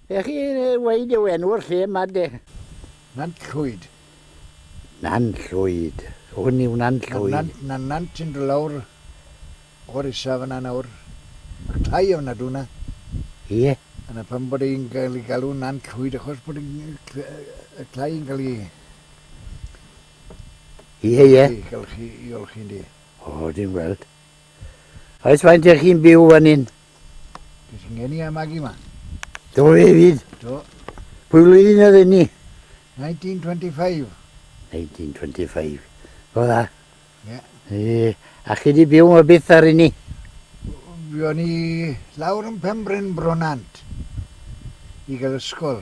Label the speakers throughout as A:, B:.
A: Ewch chi weud yw enw'r lle yma de? Nant
B: Llwyd.
A: Nant Llwyd. Hwn yw Nant Llwyd. Mae nant yn dod lawr
B: o'r isa fan'na nawr. Mae'r tai ofnadw yna. Ie.
A: A 'na pam bod
B: hi'n cael ei galw Nant Llwyd achos bod y tai yn cael ei...
A: Ie ie. ...golchi, i
B: olchi ynde. O dwi'n gweld.
A: Oes faint ych chi'n byw fan hyn? Dwi sy'n
B: gen i a Maggie ma. Do fe
A: fyd? Do.
B: Pwy flwyddyn
A: oedd hynny?
B: 1925. 1925.
A: Go dda? Ie. Yeah.
B: A chi di
A: byw yma byth ar hynny? Fi
B: o'n i lawr yn Pembryn Bronant i gael ysgol.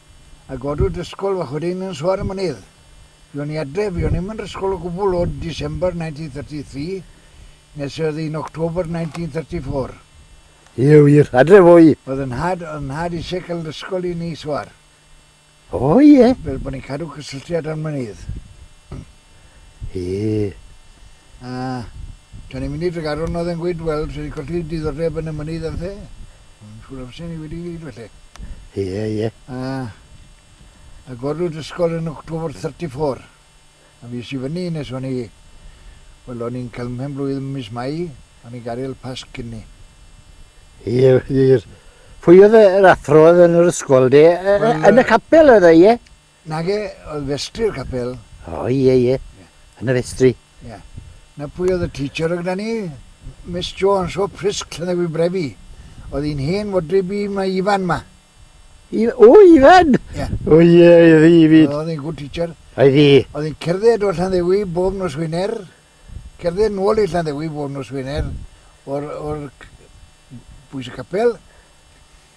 B: a godwyd ysgol fach wedyn yn Soar y Mynydd. Fuon i adre, fuon i'm yn ysgol o gwbl o December 1933 nes oedd hi'n October 1934. Ie
A: wir, adre fo i. Oedd 'y nhad, oedd 'y
B: nhad isie cael ysgol i ni Soar. O
A: ie. Fel bod ni'n cadw
B: cysylltiad â'r Mynydd. Hee.
A: A,
B: tan ni'n mynd i Tregaron oedd e'n gweud, wel, ti wedi colli diddordeb yn y mynydd a phethe. Mae'n siŵr os ni wedi gweud falle. Ie, ie.
A: A,
B: a gorwyd ysgol yn October 34. A fi sy fyny nes o'n i, wel, o'n i'n cael mhen blwydd ym mis Mai, o'n i'n gadael Pasg cyn ni. Ie,
A: wir. Pwy oedd yr athro oedd yn yr ysgol de? Yn y capel oedd e, ie? Nage,
B: oedd festri'r capel. O ie ie, ie,
A: yn y festri. Ie.
B: Na pwy oedd y teacher oedd gyda ni? Miss Jones o Prysg, Llandewi Brefi. Oedd hi'n hen fodryb i mae Ifan ma. I, o,
A: Ifan! Ie. O ie,
B: oedd hi
A: fyd. Oedd hi'n good teacher.
B: Oedd hi. Oedd hi'n
A: cerdded o
B: Llanddewi bob nos Wener, cerdded nôl i Llanddewi bob nos Wener, o'r, o'r bwys y capel.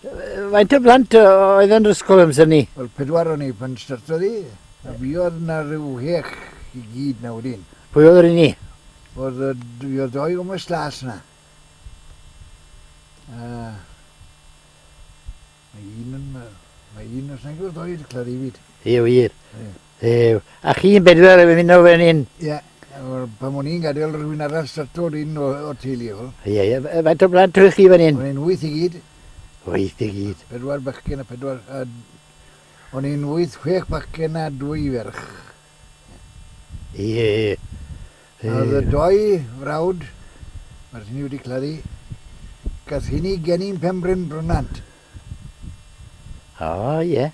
B: Faint o
A: blant oedd yn yr ysgol amser ni? Wel, pedwar o'n ni pan
B: startodd i, a fi oedd na rhyw hech i gyd na wedyn. Pwy oedd yr un ni?
A: Oedd y
B: fi oedd doi o mas las na. A... Mae un yn... Mae un os nag oedd doi wedi clod i fyd. Ie, wir. Ie.
A: Dduw. A chi'n bedwar yn ymuno fan hyn? Ie. Wel,
B: pan o'n i'n gadael, rhywun arall startodd un o, o teulu hwn. Ie, ie. F- Faint o
A: blant ydych chi fan hyn? O'n i'n wyth i gyd.
B: Wyth i gyd.
A: Pedwar bechgyn a pedwar...
B: A, o'n i'n wyth, chwech bachgen a dwy ferch. Ie,
A: ie, ie. A oedd y
B: doi frawd, mae'r hynny wedi claddu, gath hynny geni'n Penbryn Brynant. O,
A: ie.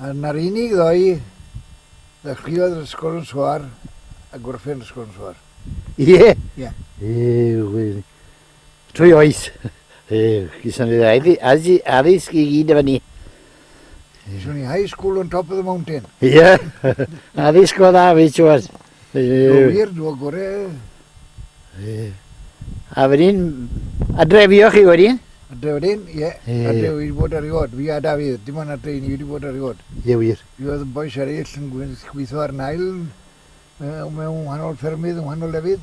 A: Ar na'r
B: unig ddoe ddechreuodd yr ysgol yn Soar a gorffen yr ysgol yn Soar. Ie? Ie. Ie,
A: trwy oes. Ie, gyson ni dda. As i addysg i gyd efo ni.
B: Gyson ni high school on top of the mountain. Ie,
A: addysg o dda, fi siwr. Go wir,
B: do gore.
A: A wedyn, adre fi o chi wedyn? Adre wedyn,
B: ie. Adre wedi bod ar ei od. Fi a Dafydd, dim ond adre i ni wedi bod ar ei od. Ie wir. Fi oedd
A: yn bois eraill
B: yn gweithio ar nail mewn wahanol ffermydd yng ngwahanol lefydd.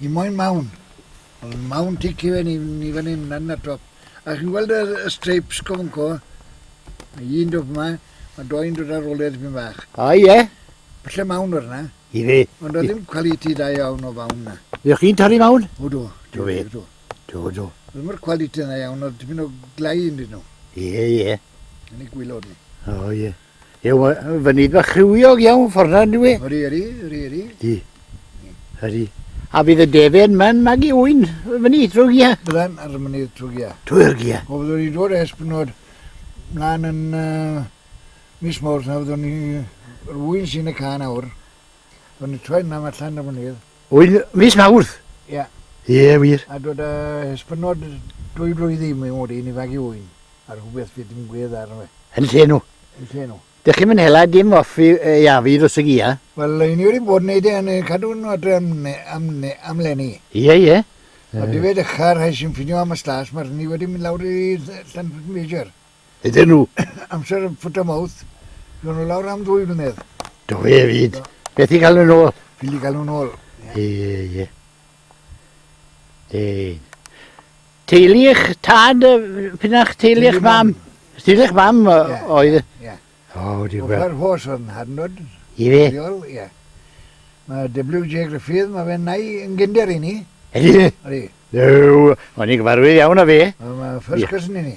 B: Ni moyn mawn. Wel mae mawn tic ife ni, ni fan hyn lan y top. A chi'n gweld y, y streips cofonco? Mae un dod yma, mae doi'n dod ar ôl e ddipyn bach. A ie? Yeah.
A: Falle mawn o'r
B: yna. Ife? Ond oedd ddim quality da
A: iawn
B: o fawn
A: na.
B: Ydych chi'n torri mawn?
A: O
B: do. Do fe?
A: Do.
B: Do,
A: do. Ddim o'r quality
B: yna iawn, oedd dipyn o glai yn dyn nhw. Ie, ie.
A: Yn ei gwylod
B: nhw. O ie.
A: Ew, fy nid bach rhywiog iawn ffordd na, dwi. Yri, yri, yri, yri.
B: Di.
A: Yri. A fydd y defen ma'n magu wy'n fy nid trwy gia? Byddai'n ar fy nid trwy
B: gia. Trwy'r gia? O, fyddwn
A: ni'n dod es
B: bynod mlaen yn uh, mis mawrth na fyddwn ni rwy'n sy'n y can awr. Fyddwn ni'n troi nam allan ar fy nid. Oedd mis
A: Mawrth? Ie.
B: Ie, wir. A
A: dod a
B: hysbynod dwy flwydd i mi mod i'n ifanc i ŵyn, a rhywbeth fydd dim gwedd arno fe. Yn lle nhw. Yn
A: lle nhw. Dych chi'm
B: yn hela dim
A: off fi, yy, ia, fi ddrwsig i, ia? Wel, i ni wedi bod yn
B: neud e, yn cadw nhw adre am ne- am ne- am leni. Ie, ie.
A: Ond ife
B: dechra rhai sy'n ffinio am y stas, ma' rhni wedi mynd lawr i Ll- Llanfytmejr. iddyn nhw.
A: Amser yn foot of
B: mouth. Gawn nhw lawr am ddwy flynedd. Do fe fyd.
A: Beth i gael nhw'n ôl? Fili i gael nhw'n ôl.
B: Ie, ie.
A: Dein. Teulu eich tad, pyn a'ch teulu eich mam? Teulu eich mam oedd... Ie. O,
B: wedi gweld. Offer
A: hos o'n hadnod.
B: I fe?
A: Ie.
B: Mae WJ Griffith, mae fe'n nai yn gynder i ni. Ydy? Ydy. Yw,
A: o'n i'n gyfarwydd iawn o fe. Mae first cousin
B: i ni.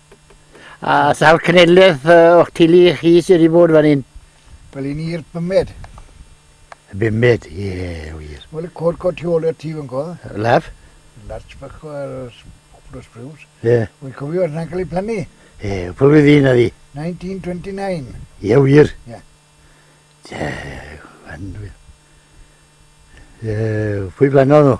A: A sawl cenedlaeth o'ch teulu chi sydd wedi bod fan hyn? Wel, i ni'r
B: bymed. Y
A: bymed, ie, yeah, wir. Wel, y cod cod tu ôl
B: i'r tîf yn go. Laf?
A: Larch bach
B: o'r Populous Brews. Ie. Yeah. Wy'n cofio
A: yna'n cael ei
B: plannu. Ie, yeah, pwy fydd
A: un addi? 1929.
B: Ie, yeah, wir.
A: Ie. Yeah.
B: Ie, yeah,
A: fan wir. Ie, yeah, pwy blannodd nhw?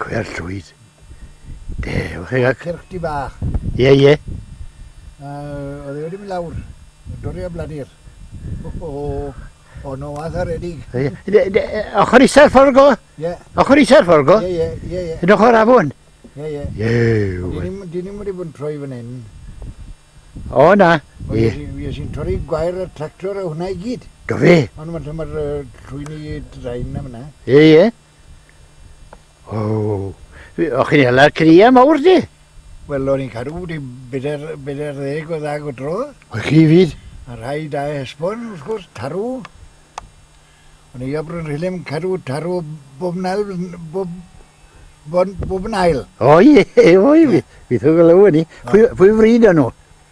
B: Cwer
A: llwyd. De, o'ch chi gael... Cyrch di bach.
B: Ie, ie. Oedd e wedi mynd lawr. Dorri a bladir. O, o, o. O, no, a dda redig. Ochr
A: isa'r fforgo? Ie. Ochr isa'r
B: fforgo? Ie,
A: ie, ie, ie. Yn ochr
B: afon?
A: Ie,
B: ie.
A: Ie. Di ni'n wedi bod
B: yn troi fan hyn.
A: O, na. Ie. Ie, sy'n
B: torri gwair y tractor a hwnna i gyd. Do fe? Ond
A: mae'r
B: llwyni draen am yna. Ie, ie.
A: O, o chi'n hela'r cria mawr di? Wel, o'n i'n cadw
B: wedi beder, beder ddeg o ddag o dro. O chi fyd?
A: A rhai da
B: esbon, wrth gwrs, tarw. O'n i a Bryn Rhilem cadw tarw bob nael, bob, bob, bob nael. O ie,
A: o ie, fi, fi ddod o law ni. Pwy, pwy fryd o'n nhw?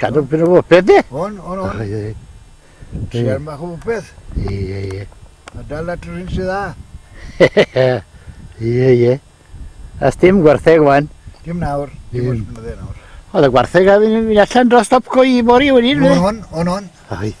A: Cadw pyn o bopeth de? On, on,
B: on.
A: Siar
B: mach o bopeth. Ie, ie, ie.
A: A dal at
B: yr hyn sydd dda.
A: Ie, ie. As dim gwartheg wan. Dim nawr. Dim
B: oes blynydde nawr. Oedd y gwartheg a
A: fi'n mynd allan dros stop go i bori wedyn. On, on, on, on.
B: Oedd.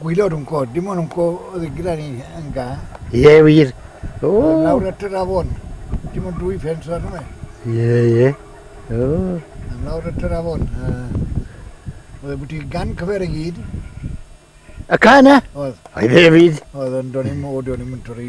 B: Gwylio'r unco, dim ond unco oedd yn gyda ni yn ga. Ie, wir.
A: O! Nawr at yr
B: afon. Dim ond dwy ffens arno fe. Ie, ie.
A: O. Nawr at
B: yr afon. Oedd e bwyty gan cyfer y gyd.
A: Y ca yna? Oedd. Oedd e
B: fyd?
A: Oedd, ond do'n i'n o,
B: do'n i'n torri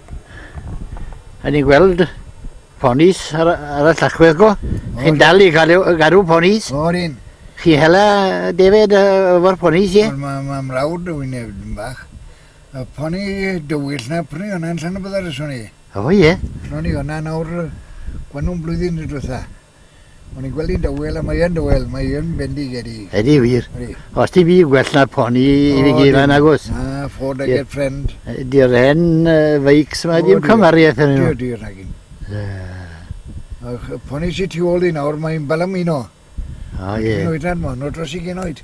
A: Rhaid ni gweld ponis ar, ar y llachwedd go. Chi'n dal i gael garw ponis? O'r un. Chi
B: hela
A: defed efo'r ponis, ie? Mae ma, ma mrawd o fi'n
B: efd yn bach. Y poni dywyll na prynu hwnna'n llan y byddar yswn i. O, ie. Lon
A: i hwnna nawr,
B: gwan nhw'n blwyddyn y diwetha. O'n i'n gweld hi'n dawel a mae yn dawel, mae yn bendigedig. Ydy wir. Ydy.
A: Os ti fi gwell na poni i fi gyd fan agos. Na, Ford I get
B: friend. Di'r hen
A: feics yma, dim cymariaeth yn nhw. Di'r nagin.
B: Poni si ti ôl i nawr, mae'n balam un o. O ie. Dwi'n
A: oedran ma, no dros i
B: gen oed.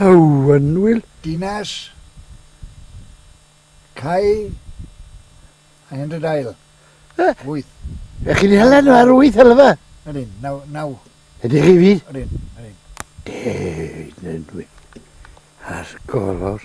A: Hywynwyl. Dinas
B: Cai a Henry Dail. Wyth. Ych chi'n hela
A: nhw ar wyth helfa? Ydyn, naw, naw.
B: Ydych chi fyd?
A: Ydyn, ydyn.
B: Deud
A: yn wyth. Ar golor.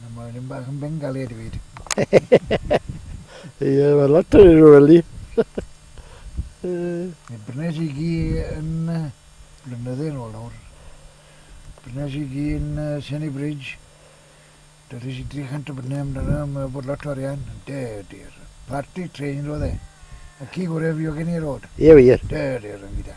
B: Na, mae'n rhywun bach yn bengali a dweud.
A: Ie, mae'n lot o rhywun weli.
B: Mae Brnes i gi yn blynydde yn ôl nawr. Brnes i gi yn Senny Bridge. Doedd eisiau 300 o brynu amdano, mae bod lot o arian. De, dir. Party train roedd e. A ci gorau fi o gen i'r rod. Ie, wir. De, dir,
A: yn gyda.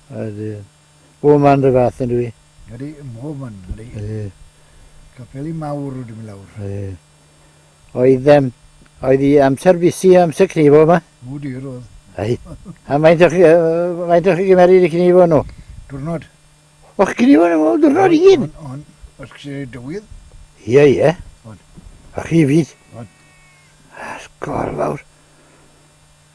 B: Ydy.
A: Bob man dy fath yn dwi? Ydy, yn bob man,
B: ydy. Ydy. Capeli mawr rydym i lawr. Ydy. Oedd, um,
A: oedd i amser busi amser cnifo yma? O dir oedd. Ai. A
B: mae'n o'ch, uh,
A: mae'n o'ch gymeryd i cnifo nhw? Dwrnod.
B: O'ch
A: cnifo nhw dwrnod i gyd? On, on. Os chi
B: dywydd? Ie, ie.
A: On.
B: A chi fyd?
A: On.
B: Asgol
A: fawr.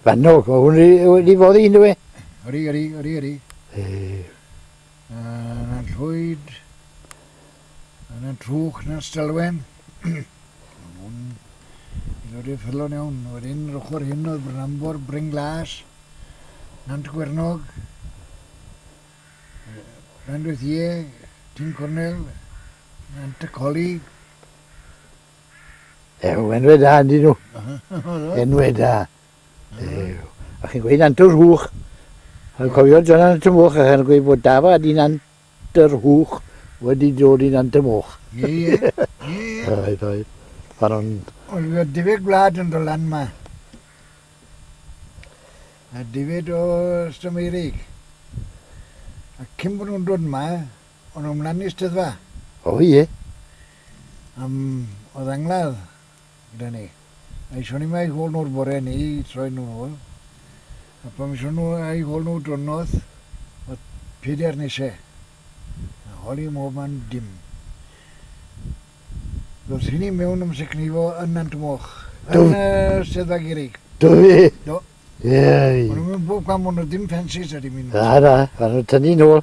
B: Fanno,
A: o hwn wedi foddi yn dweud? Yri, yri, yri, yri.
B: Yna llwyd, yna trwch, yna stelwen. Hwn, i ddod i'r ffyllon iawn. Wedyn, yr ochr hyn oedd Brynambor, Bryn Glas, Nant Gwernog, Rhandwyth Ie, Tyn Cornel, Nant y Colig,
A: Ew, enwe da yndyn nhw. Enwe da. Ew. A chi'n gweud Antur Hwch. Yn cofio John Antur Moch a chi'n gweud bod Dafa a dyn Antur Hwch wedi dod i'n Antur Moch. Ie, ie.
B: Ie. Oedd,
A: oedd. Fan o'n... Oedd y difed
B: gwlad yn dod lan yma. A difed o Stameirig. A cyn bod nhw'n dod yma, o'n nhw'n mlaen i steddfa. O,
A: ie. Am
B: oedd angladd gyda ni. Aethon ni a'u hôl nhw'r bore ni i troi nhw'n ôl. A pan aethon nhw a'u hôl nhw dwrnod, oedd peder nise. A holi mob man dim. Doedd hynny mewn ymsecnifo yn Nant Moch, yn y Steddfa Gerrig. Do fi? Do.
A: Ie. O'n
B: nhw'n
A: mynd bob cam
B: ond oedd dim ffensys a dim un. Na, na, a nhw'n
A: tynnu nôl.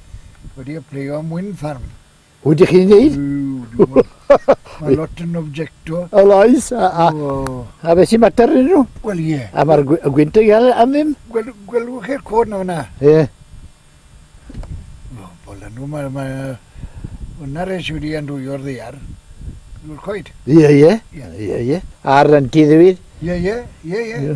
B: wedi apleio am Wind Farm. O, ydych chi'n dweud? Mae lot yn objecto. O, loes. A,
A: a, a beth sy'n mater yn nhw? Wel, ie. A mae'r
B: gwynt yn
A: gael am ddim? Gwel, gwelwch chi'r cod
B: na fyna? Ie.
A: O,
B: bol nhw, mae... Ma, Yna res i wedi andwyo'r ddear. Dwi'n coed. Ie, ie. Ie,
A: ie. A'r renti ddewyd? Ie, ie.
B: Ie, ie.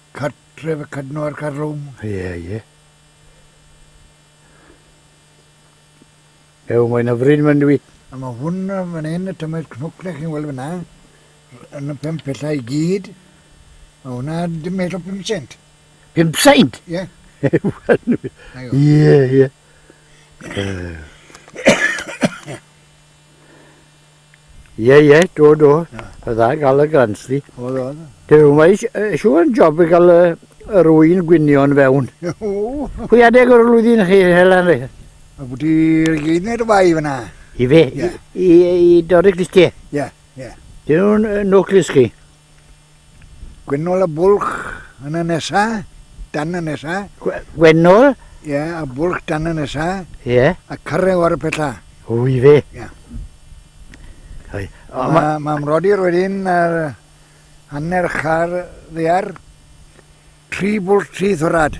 A: Cartref
B: y Cadno a'r Carlwm. Ie, ie.
A: Ew, mae'n hyfryd yma yndw i? A mae hwn
B: fan hyn, y tymed cnwcle chi'n weld fyna, yn y pump pethau i gyd, mae hwnna dim medd o 5 cent. 5 cent?
A: Ie. Ew,
B: yndw i? Ie,
A: ie. Ie, ie, do, do. Oedd dda gael y grant di. Oedd, oedd. Dwi
B: ddim wedi
A: eisiau yn job i gael yr wy'n gwynion fewn. Pwy adeg o'r flwyddyn chi, Helen? Rhi? A bod
B: i'r gyd neu'r fai fyna. I fe?
A: I, i, i Dorig Listie? Ie, ie.
B: Dyn nhw'n
A: noclis chi?
B: Gwennol a Bwlch yn y nesa, dan y nesa. Gwennol?
A: Ie, a
B: Bwlch dan y nesa. Ie. A
A: Carreg o'r
B: Pella. O, i fe?
A: Ie. Mae ma mrodyr wedyn
B: ar hanner char ddear, tri bwlch, tri thorad.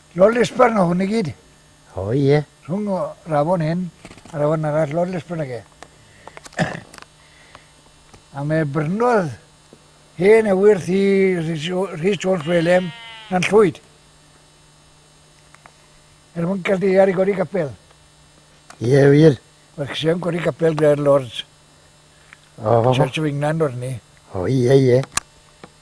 A: Lord
B: Lisburn o hwn i gyd. O ie.
A: Rhwng o rafon
B: hyn a rafon arall Lord Lisburn ag e. a mae brynwodd hen ewyrth i Rhys Jones Welem na'n llwyd. Er mwyn cael deiar i godi capel. Ie,
A: yeah, wir. Mae'r cysau yn godi
B: capel gyda'r Lords.
A: Oh. Church of England
B: o'r ni. O, ie, ie.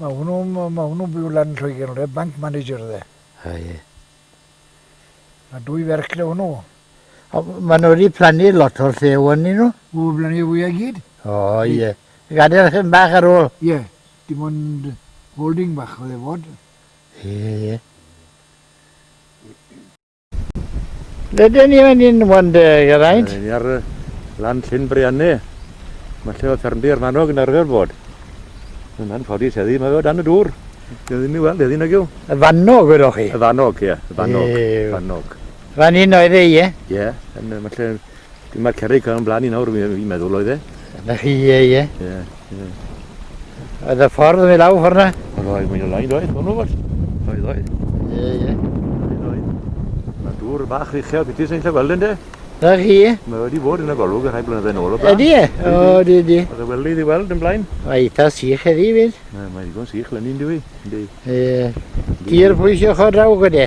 B: Ma hwnnw ma hwnnw'n byw lan yn Lloegr ynddo fe, bank manager yfe. A ie. Ma dwy ferch gyda hwnnw. O, ma nhw
A: wedi plannu lot o'r lle o'n ni nhw. O, blannu y fwyau
B: gyd? O, ie.
A: Gadael hyn bach ar ôl. Ie, dim
B: ond holding bach oedd e fod. Ie, ie.
A: Rydyn ni fan hyn, Wande, Geraint. Rydyn ni ar
C: lan Llyn Brianne. Mae lle o ffermdi ar manog yn arfer bod. Yna'n ffodus heddi, mae o dan y dŵr. Dwi ddim i weld heddi nag yw. Y fannog, wedoch
A: chi? Y fannog, ie. Y
C: fannog. Ew. Fannog.
A: Fan
C: hyn oedd e,
A: ie? Ie. Mae lle
C: Mae'r cerrig yn blaen i nawr, fi'n meddwl oedd e. Na chi, ie, ie. Ie, ie.
A: Oedd y ffordd yn mynd lawr ffordd na? Oedd oedd, mae'n ymlaen, doedd,
C: hwn o fod. Oedd oedd. Ie, ie.
A: Oedd oedd.
C: Mae dŵr bach uchel beth sy'n lle weld yn de? Na chi, ie. Mae
A: wedi bod yn y golwg
C: yn rhai blynydde yn ôl o blaen. Ydy e? O, ydy,
A: ydy. Oedd y welydd i weld yn
C: blaen. Mae eitha sych
A: eddi fyd. Mae'n ddigon sych
C: lenni'n dwi. Ie.
A: Tir pwysio chod draw gyda.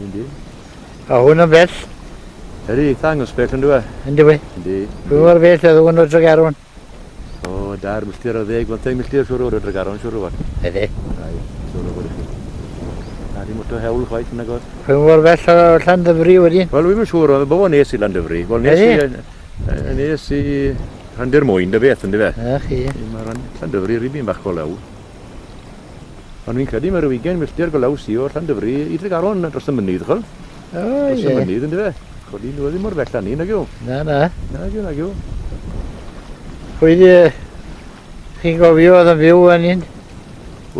C: Yndi. A hwn
A: yn bell. Yr eitha
C: angos bell yn dweud. Yndi we. Yndi.
A: Pwy mor bell
C: oedd
A: hwn o Dregaron? O,
C: dair milltir o ddeg, bymtheg milltir siwr o'r Dregaron, siwr o fod. Ydy. Ai,
A: siwr o
C: fod i chi. Na di mwto hewl chwaith yn agos. Pwy mor bell o
A: Llandyfri wedyn? Wel, wy'n siwr, oedd y bobl
C: nes i Llandyfri. Wel, nes i... Nes i... Rhandir mwyn, dy beth, ynddi fe? Ych, ie. Mae
A: Llandyfri
C: rhywbeth bach o lew. Ond fi'n credu mae rhyw ugain milltir golaws i o Llandyfri i Dregaron dros y mynydd, chwel? O, ie. Dros y
A: mynydd, ynddo
C: fe? Codi nhw ddim mor bell â ni, nag yw? Na, na. Nag
A: yw, nag yw. Pwy di... Chi'n gofio oedd yn fyw yn un?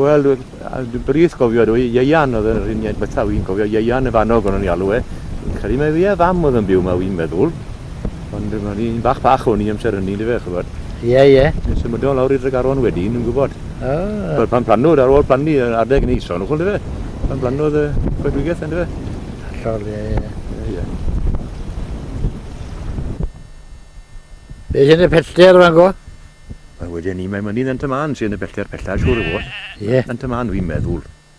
A: Wel,
C: dwi'n brith gofio dwi, Ieian oedd yr uniaid bethau, wy'n cofio Ieian y fanog o'n i'n alw e. Fi'n credu mae fi a fam oedd yn byw yma, wy'n meddwl. Ond dim ond un bach bach o'n i amser hynny yndyfe, ch'bod. Ie, ie. Ni'n
A: symudo lawr i
C: Dregaron wedyn, ni'n gwybod. O! Wel, pan
A: planwyd,
C: ar ôl plannu yr adeg yn Eison, ch'wel yndyfe? Pan planwyd y coedwigaeth yndyfe? Hollol, ie, ie. Ie,
A: ie. Beth yn y pellter fan go? Wel, wedyn
C: ni, mae mynydd Ant y Mân sy'n y pellter pella, siŵr o fod. Ie. Ant y Mân, fi'n
A: meddwl.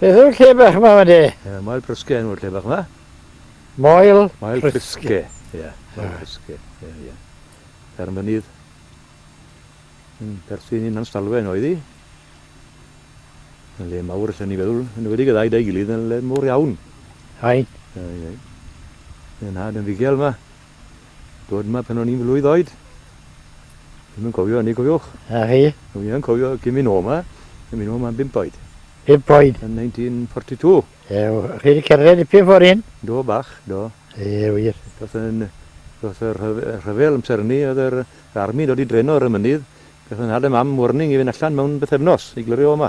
A: Beth yw'r lle bach yma, Made? Ie, Moel Prysge enw'r
C: lle bach yma. Moel,
A: Moel Prysge.
C: Ie, Moel Prysge. Ie, ie. Fferm fynydd. Yn perthyn i'n Anstalwen oedd hi. Yn le mawr allan ni feddwl, yn wedi gyda'i dau gilydd yn le mawr iawn. Hain.
A: Ie,
C: ie. Yn had yn figel yma. Dod yma pan o'n i'n flwydd oed. Ddim yn cofio hynny, cofiwch. A chi? Dwi ddim
A: yn cofio cyn
C: mynd o yma. Cyn mynd o yma am bimp oed. Bimp oed? Yn 1942. Ew, chi
A: wedi cerdded dipyn ffordd hyn? Do, bach, do.
C: Ie, wir.
A: Doedd yn... Doedd
C: y rhyfel amser hynny, oedd yr armi'n dod i dreno ar y mynydd. Gath yn nhad a mam warning i fynd allan mewn bythefnos i glirio o yma.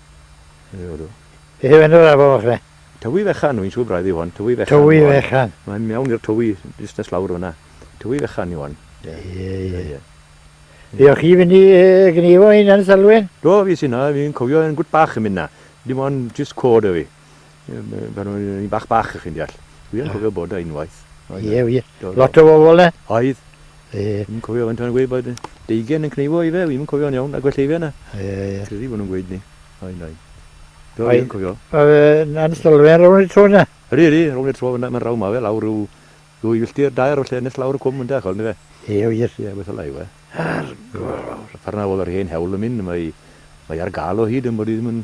A: Beth yw enw'r afon fach ne? Tywi Fechan, wy'n siŵr
C: braidd yw hon. Tywi Fechan. Tywi Fechan. Mae'n
A: mewn i'r tywi,
C: jyst nes lawr fyna. Tywi Fechan yw hon. Ie, ie, ie.
A: Fe o chi fynd i gneifo hyn yn Selwyn? Do, fi sy'n na, fi'n
C: cofio yn gwt bach yn mynd na. Dim ond jyst cod o fi. Pan o'n i'n bach bach, chi'n deall. Dwi yn cofio bod unwaith. Ie, ie.
A: Lot o bobl e? Oedd. Ie.
C: Dwi'n cofio
A: faint o'n gweud
C: bod deugen yn cneifo i fe, fi'n cofio'n iawn, a gwell ei fe yna. Ie, ie. Credu bod nhw'n
A: gweud ni.
C: Oen, oen. Do, fi'n cofio. Yn
A: sylfaen rown i'r tro yna? Ydy, ydy, rown i'r tro
C: yna, mae'n raw ma fe, lawr rhyw ddwy filltir, dair o lle nes lawr y cwm yn dech, oedd ni fe? Ie, wir. Ie, beth
A: ola yw e.
C: Ar gorfawr. Ffarna oedd yr hen hewl yn mynd, mae ar gael o hyd yn bod i ddim yn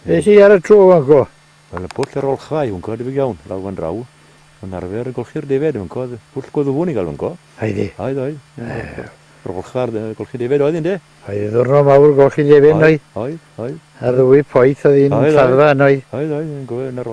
A: Beth i ar y tro fan go? Wel, y pwll yr olchfa
C: i fan co, debyg iawn, lawr fan draw. Mae'n arfer y golchi'r defed fan co, pwll goddwfwn i gael fan co. Oedd i? Oedd, oedd. Yr olchfa ar golchi defed oedd, ynddo? Oedd, ddwrnod mawr
A: golchi defed, oedd? Oedd, oedd. Ar
C: ddwy poeth
A: oedd un lladdfa, oedd? Oedd, oedd, yn gofio yn
C: yr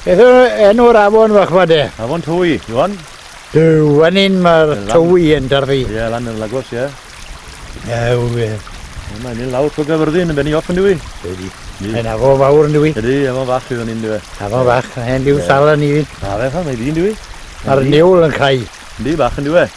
A: Beth yw enw'r afon fach ma de? Afon Twy, Iwan?
C: Dyw, fan
A: hyn mae'r Twy yn darfu. Ie, lan yn Lagos, ie.
C: Ew,
A: ie. Mae'n
C: mynd lawr trwy gyfyrddin yn benni off yn dwi. Ydy. Mae'n
A: afon fawr yn dwi. Ydy, afon fach sydd yn un
C: dwi. Afon fach, hen diw
A: sal yn un. A fe fan, mae dyn dwi.
C: A'r niwl yn
A: cael. Ydy, bach yn dwi.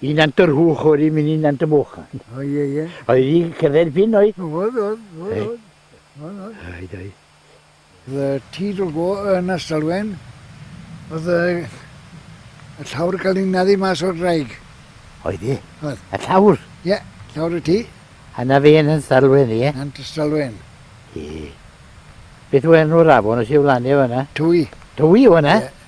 A: I nant yr hwch o'r i mynd i nant y mwch. O ie ie.
B: Oedd i cyfer
A: pin oedd? Oedd oedd. Oedd oedd.
B: Oedd
A: oedd. Oedd oedd.
B: Oedd y tîdl go yn Astalwen. Oedd y, y llawr gael ei naddu mas o'r draig. Oedd i?
A: Oedd. Y llawr?
B: Ie,
A: yeah, llawr y
B: tŷ. A na fe yn
A: Astalwen, ie? Yn Astalwen.
B: Ie.
A: Beth yw enw'r afon os yw lan efo yna? Twy. Twy yw
B: yna? Ie.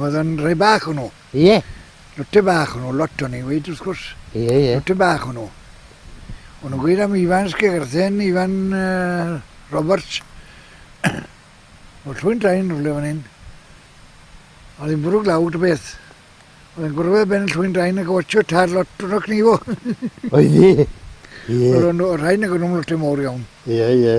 B: Oedd yn rhai bach o'n nhw? Ie.
A: Lotte bach
B: o'n nhw, lot o'n i'n gweud wrth gwrs. Ie, ie. Lotte bach
A: o'n nhw.
B: O'n nhw'n gweud am Ifan Sgegerthen, Ifan uh, Roberts. Oedd llwy'n draen rhywle fan hyn. Oedd hi'n bwrw glaw dy beth. Oedd hi'n gwrdd y ben llwy'n draen ac watcho tad lot o'n o'ch ni fo.
A: Oedd hi? Ie. Oedd o'n rhaid nag o'n
B: nhw'n lot mawr iawn. Ie, ie.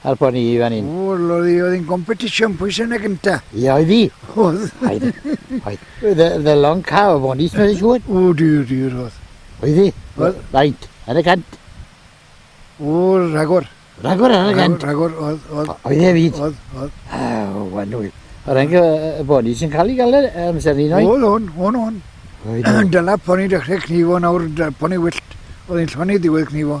A: Help o'n i i fan hyn. O, loli, oedd hi'n
B: competition pwy sy'n y gynta? Ia, oedd hi.
A: Oedd. Oedd. Oedd. The, the long car o fonis, mae'n siŵr. O, dyr, dyr,
B: oedd. Oedd hi? Oedd.
A: Faint,
B: ar y cant. O, rhagor. Rhagor ar y cant?
A: Rhagor, oedd, oedd.
B: Oedd e fyd? Oedd,
A: oedd.
B: O, wanwyl.
A: O rhaid y boni sy'n cael ei gael e, amser ni, noi? Oedd, o'n, o'n,
B: o'n. Dyla poni dechrau cnifo nawr, poni wyllt. Oedd hi'n llonydd diwedd cnifo.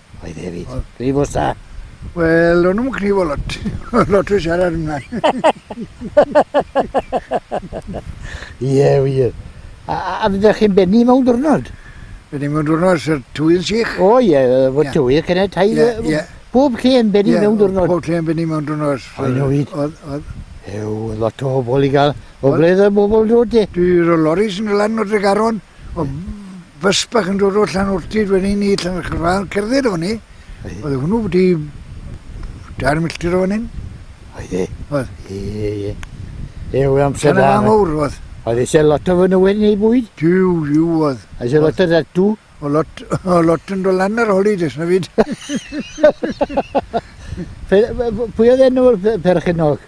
A: Oedd
B: e hefyd.
A: Oedd. Prif os da? Wel, o'n
B: nhw'n cnifo lot. lot o siarad yma. Ie,
A: yeah, wir. A, a, a fydde chi'n benni mewn diwrnod? Benni mewn
B: diwrnod,
A: sy'r
B: twy'n
A: sych. O ie,
B: yeah, fod yeah. tywydd
A: cynne
B: tai.
A: Yeah,
B: yeah. Bob
A: lle yn benni yeah, mewn diwrnod. Bob lle yn benni mewn diwrnod.
B: O'n nhw fyd. Oedd,
A: oedd. Ew,
B: lot
A: o bobl i gael. O ble y bobl dod e? Dwi'n rhoi loris yn y
B: lan o'r dregaron. Oedd bus bach yn dod o Llanortyd wedyn ni i Llanachrfal, cerdded o'n ni. Oedd hwnnw wedi dair milltir o'n hyn. Oedd
A: e? Oedd. Ie, ie. Ie, oedd amser da. Dyna mawr, oedd.
B: Oedd eisiau lot o fy
A: nywyd neu bwyd? Diw, diw, oedd.
B: Eisiau lot o ddatw?
A: O lot,
B: o lot yn dod lan ar holi, dys na fyd.
A: Pwy oedd enw'r perchenog?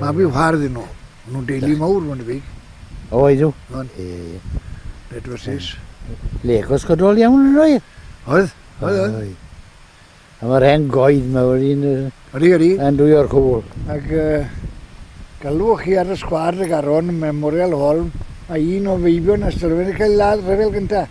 A: Mab i'w far
B: ddyn nhw. Maen nhw'n deulu mawr, mae'n debyg. O, ydw.
A: O'n. Ie, ie.
B: Bedwrsus. Legos
A: godol iawn yn oedd? Oedd, oedd,
B: oedd.
A: A mae'r hen goed mae wedi'n... Ydy, ydy. Yn
B: dwy o'r cwl.
A: Ac uh,
B: galwch chi ar y sgwad y garon Memorial Hall, mae un o feibion Ystyrfen yn cael ladd rhyfel gyntaf.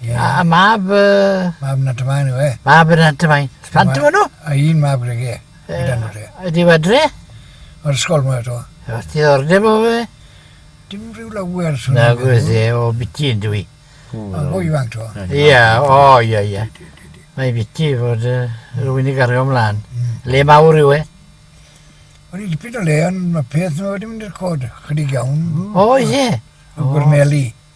A: Ie. A a mab yy... Mab Nant
B: y Maen yw e. Mab y Nant y Maen.
A: Plant yw nhw? A un mab gyda fe. Gyda
B: nhw dre. Ydi yw adre?
A: O'r ysgol
B: mae eto. Os ti ddordeb o
A: fe? Dim rhyw
B: lawer. Na gwrs e,
A: o biti yn dwi. A bo ifanc
B: to. Ia, o ia
A: ia. Mae biti fod uh, rhywun i gario ymlaen. Mm. Le mawr yw e?
B: Wel, i dipyn o le, ond mae peth nhw wedi mynd i'r cod, chydig iawn. O, ie.
A: O, gwrneli.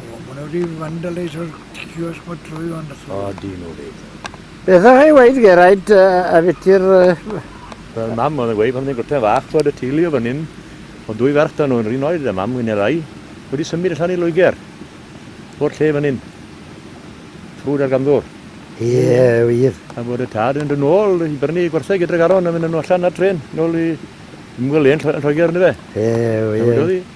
B: O, maen nhw wedi fandaleisio'r cios bod trwy fan y O, dyn nhw fi.
A: Beth o'ch chi weid, Geraint, a fyty'r... Wel,
C: mam oedd yn gweud pan oedd yn gwrta'n fach, twad y teulu o fan hyn, o dwy ferch da nhw yn rhin oed, a mam hyn erai, wedi symud allan i Loegr, o'r lle fan hyn, ffrwd ar gamddwr. Ie,
A: wir. A bod y tad yn dod
C: nôl i brynu gwerthau gyda'r garon a mynd nhw allan ar tren, nôl i ymwelyn yn Lloegr, ni fe? Ie, wir.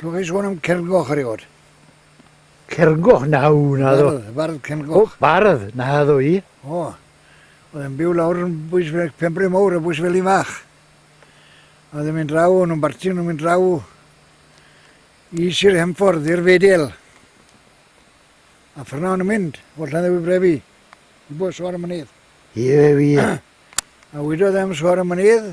B: Dw i'n sôn am Cerngoch erioed. Cerngoch?
A: Na, na ddo. Bardd, bardd Cerngoch. O,
B: bardd, na ddo
A: i. O,
B: oedd e'n byw lawr yn bwys fel Pembre Mowr a bwys fel un fach. A oedd e'n mynd draw, o'n nhw'n barti, o'n nhw'n mynd draw i Sir Hemffordd, i'r Fedel. A ffyrna o'n nhw'n mynd, o Llanddewi Brefi, i bod sgwar y mynydd. Ie, ie, ie.
A: A
B: wydodd am sgwar y mynydd,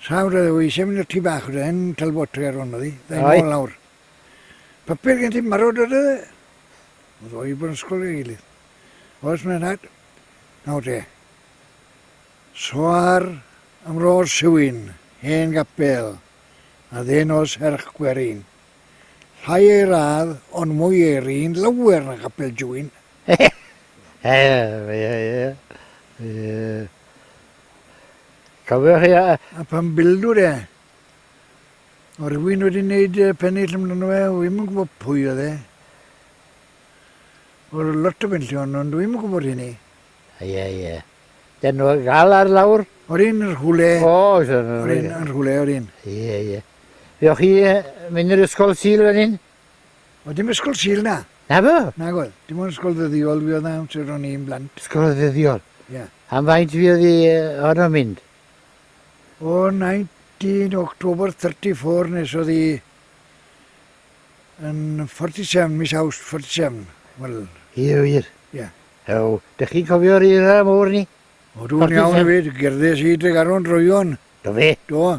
B: Sawr oedd o, eisiau mynd i'r tŷ bach oedd e, hen talbotri ar hwn oedd hi, dda'i Aye. nôl lawr. Papur gen ti marw dod oedd e? Oedd o i bod yn ysgol ei gilydd. Oes mae'n rhaid? Nawr te. Soar am ro'r siwyn, hen gapel, a ddyn o serch gwerin. Llai ei radd, ond mwy ei rin, lawer na gapel jwyn.
A: Cofio chi a... A pan bildu
B: de, o rhywun wedi gwneud pennill amdano fe, o ddim yn gwybod pwy oedd e. O lot o benllion, ond ddim yn gwybod hynny. Ie, ie.
A: Dyn nhw gael ar lawr? O'r un yr hwle.
B: O, oes o'n... O'r
A: un yr
B: hwle, o'r un. Ie, ie.
A: Fioch chi mynd i'r ysgol syl fan hyn? Oedd dim ysgol
B: Sul na? Na fo? Nag oedd.
A: Dim ond ysgol
B: ddyddiol fi oedd na amser ro'n i'n blant. Ysgol ddyddiol?
A: Ie. Yeah. Am faint
B: fi oedd i
A: honno mynd? O
B: 19 October 34 nes oedd i yn 47, mis Awst 47. Wel... Ie, wir. Ie.
A: Yeah.
B: Ew, dych chi'n
A: cofio'r era mowr ni? O, dwi'n iawn i
B: fyd, gerddes i Dregaron droion. Do fe? Do.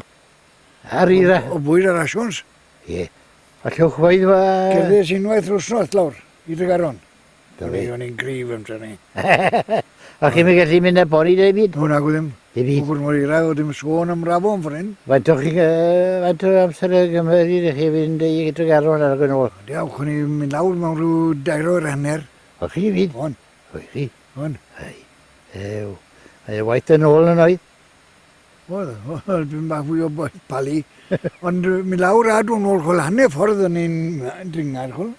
B: Ar
A: era? O, o bwyd ar asiwns.
B: Ie.
A: A llwch faidd fa... Cerddes unwaith
B: rwsnos lawr i Dregaron. Da fi. O'n i'n
A: grif yn trefnu.
B: A
A: chi'n mynd gallu mynd a boni da i byd? O, nag o ddim. Da i byd.
B: Gwbr mor eirau
A: o ddim
B: sôn am rafo yn ffordd hyn. Faint o'ch chi'n...
A: Faint o amser y gymryd i chi fynd i Dregaron ar agwyn ôl? Ond iawn, chwn i mynd
B: lawr mewn rhyw dair o'r hanner. O chi i fyd? O'n.
A: O i chi?
B: O'n.
A: Ai. Ew. Mae waith yn ôl yn oedd. Oedd,
B: oedd, dwi'n bach fwy o boeth pali. Ond mi lawr a dwi'n ôl chwl, hanner ffordd o'n i'n dringar chwl.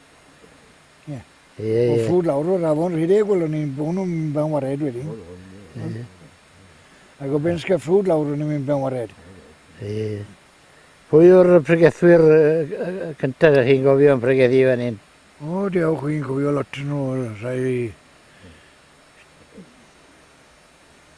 B: Ie. Ie, ie. O ffrwd
A: lawr o'r afon
B: rhedeg chwl, o'n i'n bwn o'n ben wared wedyn. Ie. Ac o ben sgeffrwd lawr o'n i'n ben wared. Ie, ie.
A: Pwy yw'r pregethwyr cyntaf ydych chi'n gofio yn pregethu fan hyn? O, diolch, chi'n
B: cofio lot nhw, rhai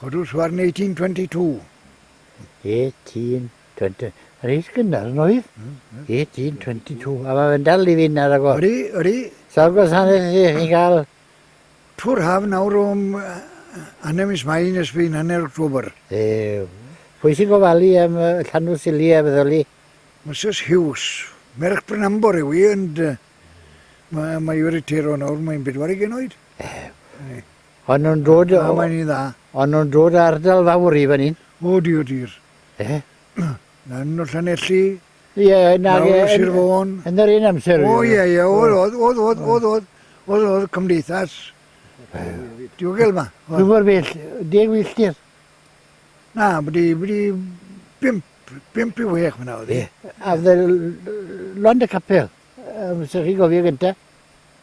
C: Codus
B: warn 1822. 1822.
A: Reit gynnar yn oedd? 1822. A mae fe'n dal i fynd ar agor. Ydy, ydy. Sawl
B: gwasanaeth
A: ydych chi'n cael? Twr
B: haf nawr o hanner mis mai nes bydd hanner October. Ew.
A: Pwy sy'n gofalu am y llanw sili a feddoli? Mrs Hughes.
B: Merch Brynambor yw i, ond mae, mae wedi tero nawr, mae'n bedwarig yn oed. Ew.
A: O'n nhw'n dod o... Na, mae'n un dda.
B: O'n nhw'n dod o ardal
A: fawr i fan hyn? O, di o dir.
B: Ie. Lan o Llanelli. Ie, na,
A: ie. Lawr Sir
B: Fôn. Yn yr un amser. O,
A: ie, ie. Oedd, oedd,
B: oedd, oedd, oedd, oedd. Oedd, oedd, cymdeithas. Diogel yma. Dwi'n gwybod bell,
A: deg filltir. Na,
B: byddi, byddi, bimp, bimp i wech fyna oedd. Ie. A fydde
A: Lond y Capel, um, sy'n chi gofio gyntaf?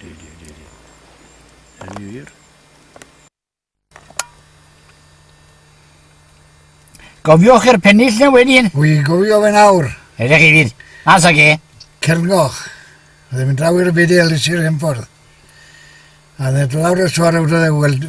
B: Di, di, di, di. Yn wir.
A: Gofiwch i'r pennill na wedyn. Wy gofio fe nawr.
B: Ydych chi fydd.
A: Mas ag e. Celgoch.
B: Ddim yn draw i'r byd i Elis i'r hymffordd. A ddod lawr y swar awd oedd e weld...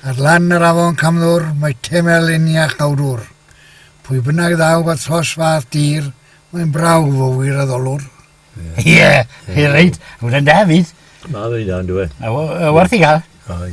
B: Ar lan yr afon Camddwr mae temel Eniach Gawdwr. Pwy bynnag ddaw at hos fath dir, mae'n brawf o wiraddolwr. Ie,
C: ie,
A: reit, hwnna'n da
C: fyd.
A: Mae
C: fe dda, dwi.
A: A werth i gael.
C: Ai.